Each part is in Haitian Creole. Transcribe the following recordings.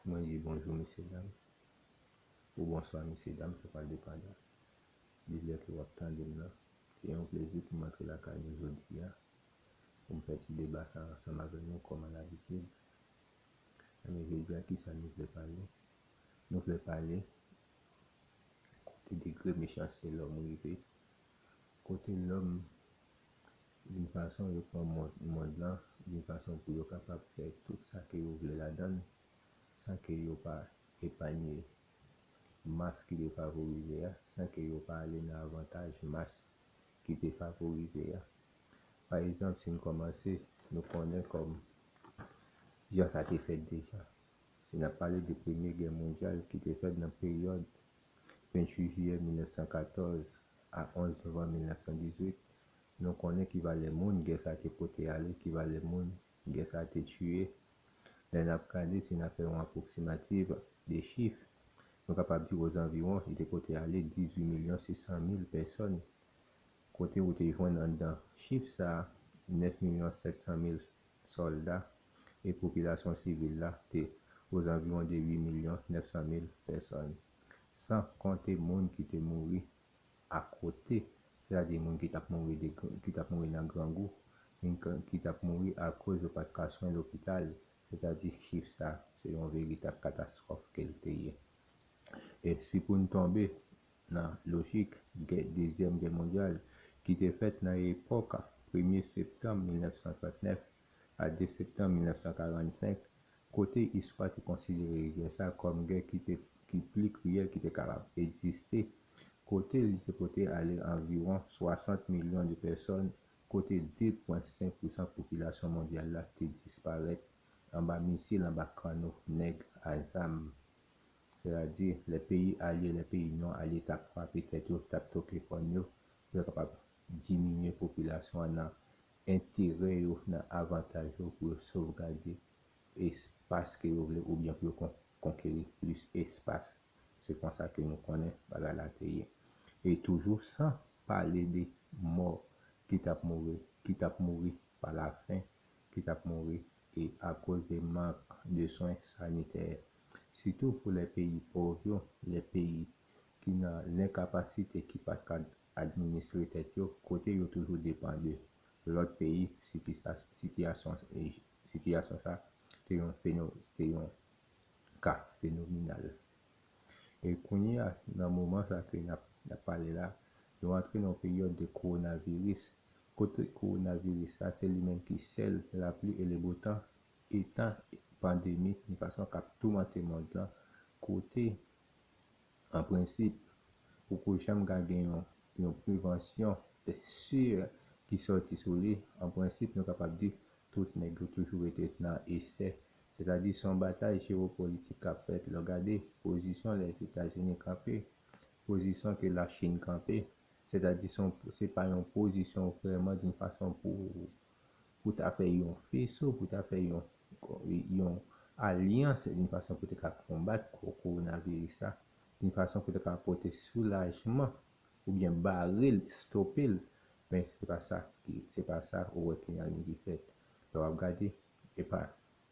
Mwen di bonjou mesye dam ou bonswa mesye dam sa pa depan de lè ke wap tande m nan. Se yon plezi pou m antre lakay nou jodi a pou m fè ti deba sa ansanm avè nou kòm a labitid. Ebyen jodi a kisa nou vle pale? Nou vle pale kote degre mechanste lòm rive Kote lòm vin fason yo pran mond lan, vin fason pou yo kapab fè tout sa ke yo vle ladann san ke yo pa epanye mas ki defavorize a, san ke yo pa ale nan avantaj mas ki defavorize a. Pa egzanp, si n kòmanse, nou konnen kòm jan sa te fèt deja. Si n ap pale de Premye Gè Mondyal ki te fèt nan peryòd 28 jiyè 1914 a 11 novanm 1918, nou konnen ki valè moun gè sa te pote ale, ki valè moun gè sa te tiye. Lè n ap gade, si n ap fè yon apwoksimativ de chif, nou kapab di ozanviwon li te pote ale 18 milyon 600 mil pèsòn Kote ou te jwenn anndan chif sa a 9 milyon 700 mil sòlda e popilasyon sivil la te ozanviwon de 8 milyon 900 mil pèsòn? San konte moun ki te mouri akote, sètadi moun ki t ap mouri de ki t ap mouri nan grangou, moun k ki t ap mouri akoz yo pa t ka swen lopital, sètadi chif sa a se yon veritab katastwòf ke l te ye. E si pou n tonbe Nan lojik gè dezyèm gè mondyal ki te fèt nan epòk premye septanm 1939 a 2 septanm 1945, kote istwa te konsidere gè sa kòm gè ki te ki pli kriyèl ki te kapab egziste, kote li te pote ale anviwon 60 milyon de pèsòn, kote 2 pwen 5 pousan popilasyon mondyal la te disparèt anba misil, anba kanno nèg a zam Sètadi, lè peyi alye, lè peyi non alye t ap frape tèt yo, t ap toke kòn yo, pou yo kapab diminye popilasyon an nan enterè yo, nan avantaj yo, pou yo sovgade espas ke yo vle oubyen pou yo konkeri plis espas. Se konsa ke nou konnen bagay la te ye. E toujou san pale de mò ki t ap mouri, ki t ap mouri pa lafen ki tap mouri e akoz de mank de swen sanitè sitou pou lè peyi pov yo, lè peyi ki nan lenkapasite ki pat ka administre tèt yo kote yo toujou depan de lòt peyi sitiyasyon sa te yon ka fenominal. E kounye a, nan moman sa ke nap nap pale la, nou antre nan yon peryòd de kowonaviris, kote kowonaviris sa se li menm ki sèl lapli e lebotan etan pandemi yon fason kap toumante mond lan, kote an prensip poko janm ka gen yon yon prevansyon de sur ki sòti sou li, an prensip nou kapab di tout nèg yo toujou rete nan esè Setadi se yon batay jewopolitik k ap fèt lè w gade pozisyon Lèzetazini kanpe, pozisyon ke Lachin kanpe. Setadi se yon se pa yon pozisyon vrèman doun fason pou pou ta fè yon feso, pou ta fè yon yon alyans doun fason pou te ka konbat kowonaviris la, doun fason pou te ka pote soulajman oubyen bare l, stope l. Men se pa sa ki se pa sa ou wè ki nan liy ki fèt lè w ap gade E pa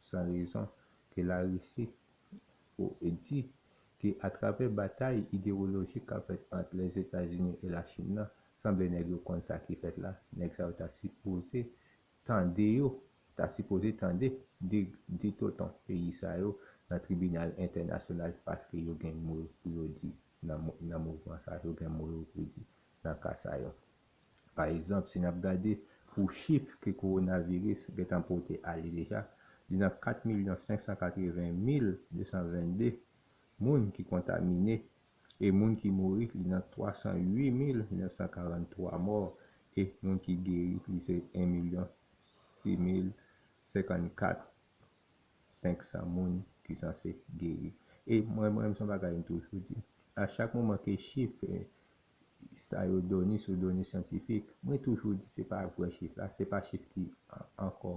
san rezon ke Larisi di ke atravè batay idewolojik kap fèt ant Lèzetazini e Lachin nan, sanble nèg yo konn sa ki fèt la, nèg sa yo ta sipoze tande yo, ta sipoze tande di tonton peyi sa yo nan tribinal entènasyonal paske yo gen mo pou yo di nan mouvman sa, yo gen mo yo pou di nan ka sa yo. Pa egzanp, si n ap gade pou chif ke kowonaviris gentan pote ale deja, li nan 4 milyon 580 mil 222 moun ki kontamine e moun ki mouri li nan 308 mil 943 mò e moun ki geri li se 1 milyon 6 mil 54 500 moun ki sanse geri. E mwen mwen menm se yon bagay m toujou di, a chak moman ke chif Sa yo doni sou doni syantifik. Mwen toujou di se pa vrè chif la, se pa chif ki ankò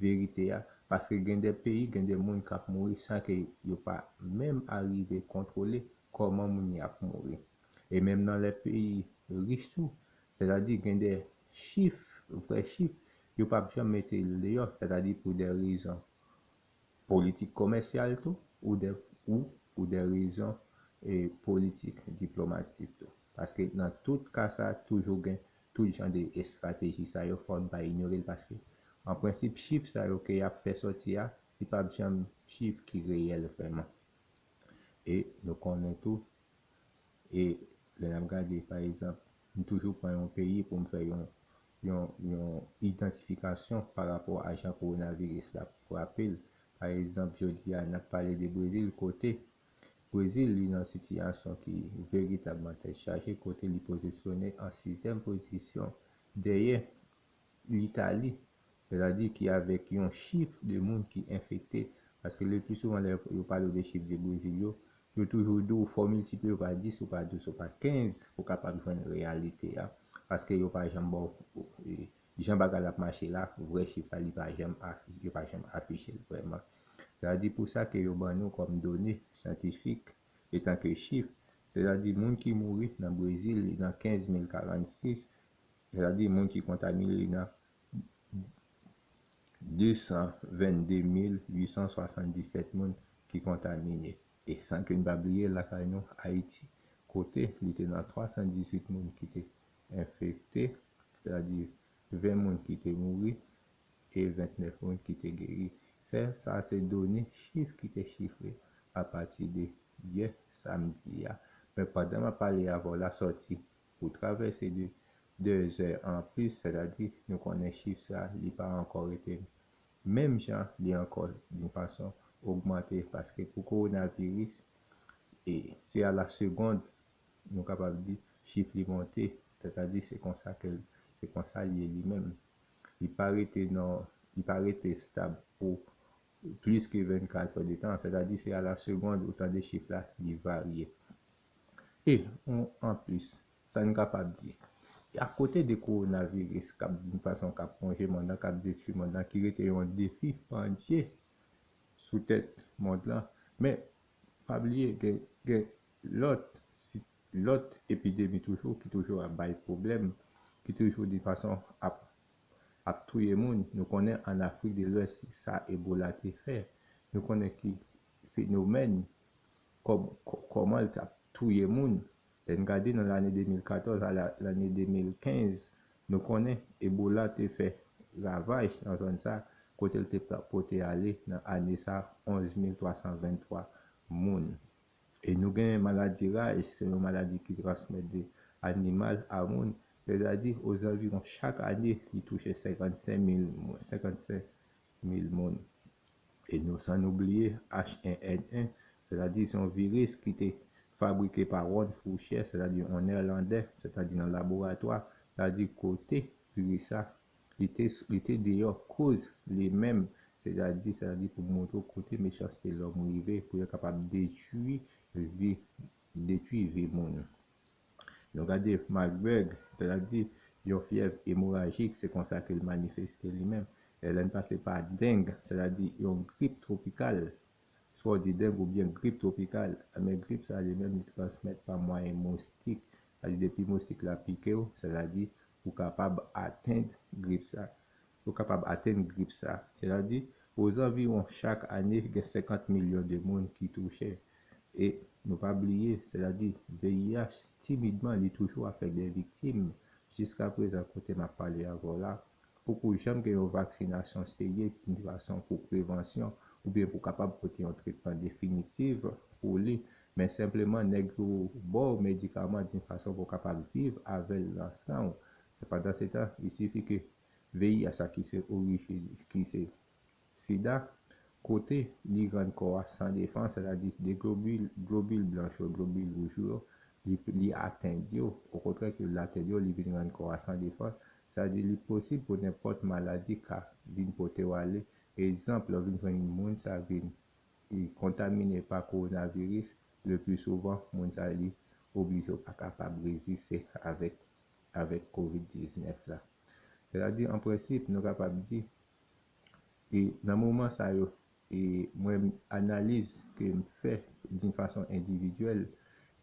verite a, paske gen de peyi, gen de moun k ap mouri san ke yo pa menm arive kontwole kòman moun yo ap mouri. E menm nan lè peyi rich tou, sètadi gen de chif, vrè chif, yo p ap janm mete l deyò, sètadi pou de rezon Politik komèsyal tou ou de ou pou de rezon e politik diplomatik tou. Paske nan tout ka sa toujou gen tout jan de estrateji sa yo fò n pa inyore l paske an prensip chif sa yo ke y ap fè sòti a li p ap janm chif ki reyèl vrèman. E nou konnen tou e lè n ap gade pa egzanp m toujou pran yon peyi pou m fè yon yon idantifikasyon pa rapò a jan kowonaviris la frape l. Pa egzanp, jodi a, n ap pale de Brezil kote Brezil li nan sitiyasyon ki veritabman tèt chaje kote li pozisyone an sizyèm pozisyon dèyè Litali, sètadi ki avèk yon chif de moun ki enfekte paske leplisouvan lè yo pale w de chif de Brezil yo, Yo toujou di w fò w miltipli yo pa 10, yo pa 12, yo pa 15 pou w kapab jwenn reyalite a. Paske yo pa janm ba w jan bagay la ap mache la, vrè chif la, li pa janm afi, yo pa janm afiche l vrèman. Sètadi pou sa ke yo ban nou kòm done syantifik etan ke chif, sètadi moun ki mouri nan Brezil li nan 15046, sètadi moun ki kontamine li nan. 222877 moun ki kontamine e san ke n pa bliye lakay nou Ayiti kote li te nan 318 moun ki te enfekte, sètadi 20 moun ki te mouri e 29 moun ki te geri. Sè sa se done chif ki te chifre apati de yè samdi a. Men pandan m ap pale avè w la sòti Pou travèse de de zè an plis, sètadi nou konnen chif sa li pa ankò rete menm jan li ankò yon fason ogmante paske pou kowonaviris e se a la segond nou kapab di chif li monte sètadi se konsa ke se konsa li ye li menm li pa rete nan li pa rete stab pou plis ke 24 èdetan sètadi se a la segond ou tande chif la li varye. E, anplis, sa n kapab di, akote de kowonaviris k ap vin fason k ap wonje mond lan, k ap detui mond lan, ki rete yon defi pandye sou tèt mond lan, men, pa bliye gen lòt lòt epidemi toujou ki toujou ap bay pwoblèm, ki toujou de fason ap ap touye moun. Nou konnen ann Afrik de Lwès sa Ebola te fè. Nou konnen ki fenomèn Kòb kòmanl tap touye moun lèn gade nan lane 2014 a lane 2015 nou konnen ebola te fè ravaj nan zòn sa kotel te pote ale nan ane sa 11323 moun e nou gen maladi raj se yon maladi ki transmèt de animal a moun sètadi ozanviron chak ane li touche 55 mil moun E nou san nou bliye H1N1, sètadi se yon viris ki te fabrike pa Ron Fouchè, sètadi yon Nèlandè, sètadi nan laboratwa, sètadi kote viris sa, li te li te deyò koz li menm, sètadi sètadi pou montre w kote mechanste lòm rive pou yo kapab detwi vi detwi vi moun. Nou gade Marburg, lè l ap di, Yon fyèv emorajik, se konsa ke l manifeste li menm. E lè n pase pa deng, sètadi yon grip twopikal, swa w di deng oubyen grip twopikal, enben grip sa a li menm li transmèt pa mwayen moustik, sètadi depi moustik la pike w, sètadi ou kapab atenn grip sa a. yo kapab atenn grip sa. Gerard di, Ozanviwon chak ane gen 50 milyon de moun ki touche. E nou pa bliye, sètadi VIH, timidman li toujou ap fè dè viktim. Jiska prezan kote m ap pale avè w la, poko janm gen yon vaksinasyon serye ni fason pou prevansyon oubyen pou kapab pote yon tretman definitif pou li. Men senpleman nèg yo ba w medikaman d'une façon pou w kapab viv avè l nan san w. Pandansetan, il suffit que. VIH la ki se orijin ki se sida, kote li rann kò a san defans, sètadi de globil, globil blanch yo, globil wouj yo, li li atenn yo, okontrè ke li atenn yo, li vin rann kò a san defans, sa di li posib pou nenpòt maladi ka vin pote w ale, egzanp lè w vin jwenn moun sa vin li kontamine pa kowonaviris, le pli souvan moun sa li oblije w pa kapab reziste avèk avèk covid 19 la. Sètadi an prensip nou kapab di e nan moman sa yo e mwen analiz ke m fè d'une façon individuelle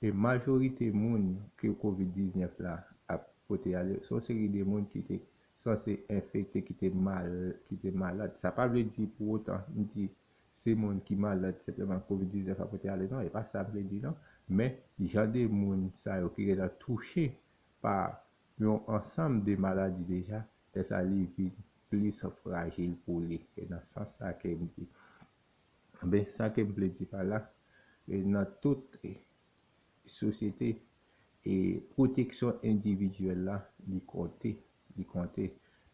e majorite moun ke covid 19 la ap pote ale son seri de moun ki te sanse enfekte ki te mal ki te malad sa pa vle di pou otan m di se moun ki malad senpleman covid 19 a pote ale non e pa sa m vle di non men jan de moun sa yo ki gentan touche pa yon ansanm de maladi deja lè sa li vin plis frajil pou li e nan sans sa ke m di ben sa ke m vle di pa la e nan tout sosyete e pwoteksyon endividyèl la li konte li konte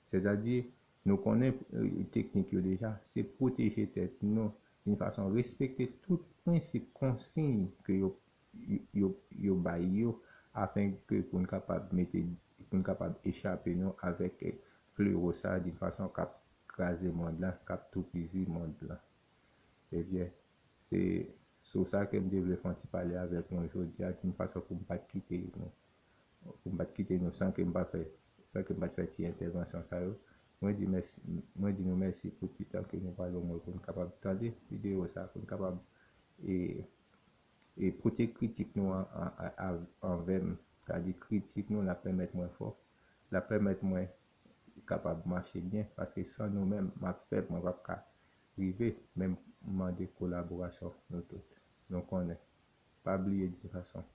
sètadi Nou konnen teknik yo deja. Se pwoteje tèt nou youn fason respekte tout prensip konsiy ke yo yo yo bay yo afen ke pou n kapab mete pou n kapab echape nou avèk flero sa di fason k ap kraze mond la k ap toupizi mond la. Ebyen se sou sa ke m te vle fon ti pale avèk nou jodi a youn fason pou m pa t kite nou. Pou m pa t kite nou san ke m pa fè, san ke m pa t fè ti entèvansyon sa yo. Mwen di mèsi, mwen di nou mèsi pou ti tan ke nou pral ban mwen pou n kapab tande videyo sa, pou n kapab e, e pote kritik nou an, a, anvè m. Sa di kritik nou l ap pèmèt mwen fò, l ap pèmèt mwen kapab mache byen, paske san nou menm m ap fèb, mwen p ap ka rive. Men m mande kolaborasyon nou tout. Nou konnen. Pa bliye de fason.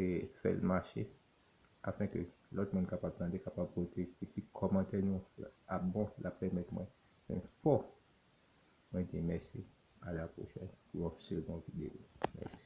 E fè l mache afin ke lòt moun kapab tande, kapab pote kritik. Kòmantè nou ap bon, l ap pèmèt mwen fè m fò. Mwen di mèsi, a la pwochèn pou yon second video. Mèsi.